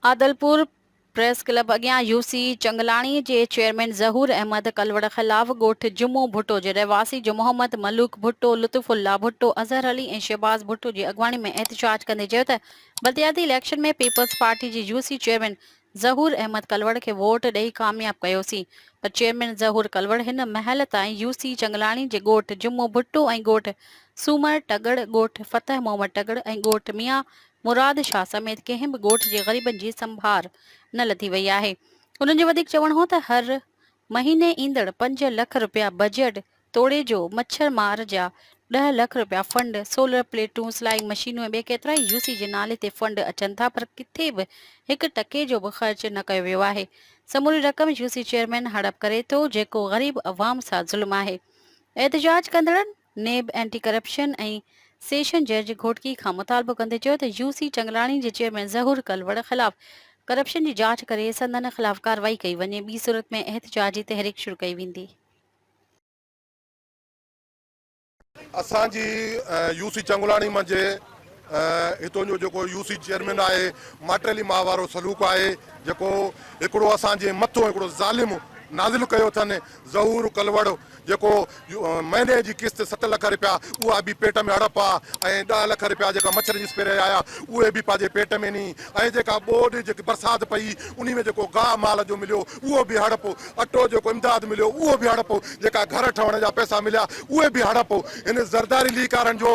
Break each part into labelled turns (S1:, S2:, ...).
S1: Adilpur, press club اڳيان UC Changlani جي chairman Zahoor Ahmed Kalor خلاف ڳوٺ جمعو ڀٽو جي رهواسي جو محمد ملوڪ ڀٽو، لطف الله ڀٽو، اظهر علي ۽ شهباز ڀٽو جي اڳواڻي ۾ احتجاج ڪندي چيو ته بلدياتي اليڪشن ۾ پيپلز پارٽي جي يوسي چيئرمين ظهور احمد ڪلوڙ کي ووٽ ڏئي ڪامياب ڪيوسين پر چيئرمين ظهور ڪلوڙ هن مهل تائين يوسي چنگلاڻي جي ڳوٺ جمعو ڀٽو ۽ ڳوٺ سومر ٽڳڙ، ڳوٺ فتح محمد ٽڳڙ ۽ ڳوٺ ميان مراد شاهه سميت ڪنهن به ڳوٺ جي غريبن جي سنڀار نه لڌي وئي آهي انهن جو وڌيڪ چوڻ هو ته هر مهيني ايندڙ پنج لک رپيا بجيٽ توڙي جو مڇر مار جا ڏهه لک رپيا فنڊ سولر پليٽون سلائنگ مشينون ۽ ٻيا ڪيترائي يو سي جي نالي تي فنڊ اچن ٿا پر ڪٿي به هڪ ٽڪي جو به خرچ نه ڪيو ويو آهي سموري رقم يو سي چيئرمين هڙپ ڪري ٿو جيڪو غريب عوام سان ظلم آهي احتجاج ڪندڙن نيب اينٽي ڪرپشن ۽ سيشن جج گهوٽڪي کان مطالبو ڪندي چيو ته يو سي چنگلاڻي جي چيئرمين ظهور ڪلوڙ خلاف ڪرپشن جي جاچ ڪري سندن خلاف ڪارروائي ڪئي وڃي ٻي صورت ۾ احتجاجي تحريڪ شروع ڪئي ويندي.
S2: اسان جي يو سي چنگلاڻي منجهه هتون جو جيڪو يو سي چيئرمين آهي ماٽيلي ماء وارو سلوڪ آهي جيڪو هڪڙو اسان جي مٿو هڪڙو ظالم نازل ڪيو اٿن ظهور ڪلوڙ جيڪو مهني جي قسط ست لک رپيا اها به پيٽ ۾ اڙپ آ ۽ ڏهه لک رپيا جيڪا مڇر جي سپري آيا اهي به پنهنجي پيٽ ۾ ني ۽ جيڪا ٻوڏ جيڪي برسات پئي انهي ۾ جيڪو گاهه مال جو مليو اهو به هڙپ اٽو جيڪو امداد مليو اهو به هڙپ جيڪا گهر ٺهڻ جا پئسا مليا اهي به هڙپ هن زرداري ليڪارن جو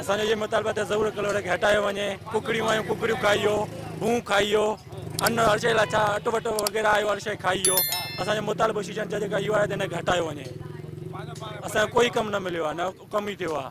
S3: اسان جو اهي
S4: مطالبا ته ضرور ڪلورڪ هٽايو وڃي ڪڪڙيون آيون ڪڪڙيون کائيو ڀون کائيو ان هر شي لاء ڇا اٽ وٽ وغيرا آيو هر شي کائيو اسان جو مطالبو شيشن جا جيڪا اهو آهي ته هن کي هٽايو وڃي اسان جو ڪوئي ڪم نه مليو آهي نه ڪم ئي ٿيو آهي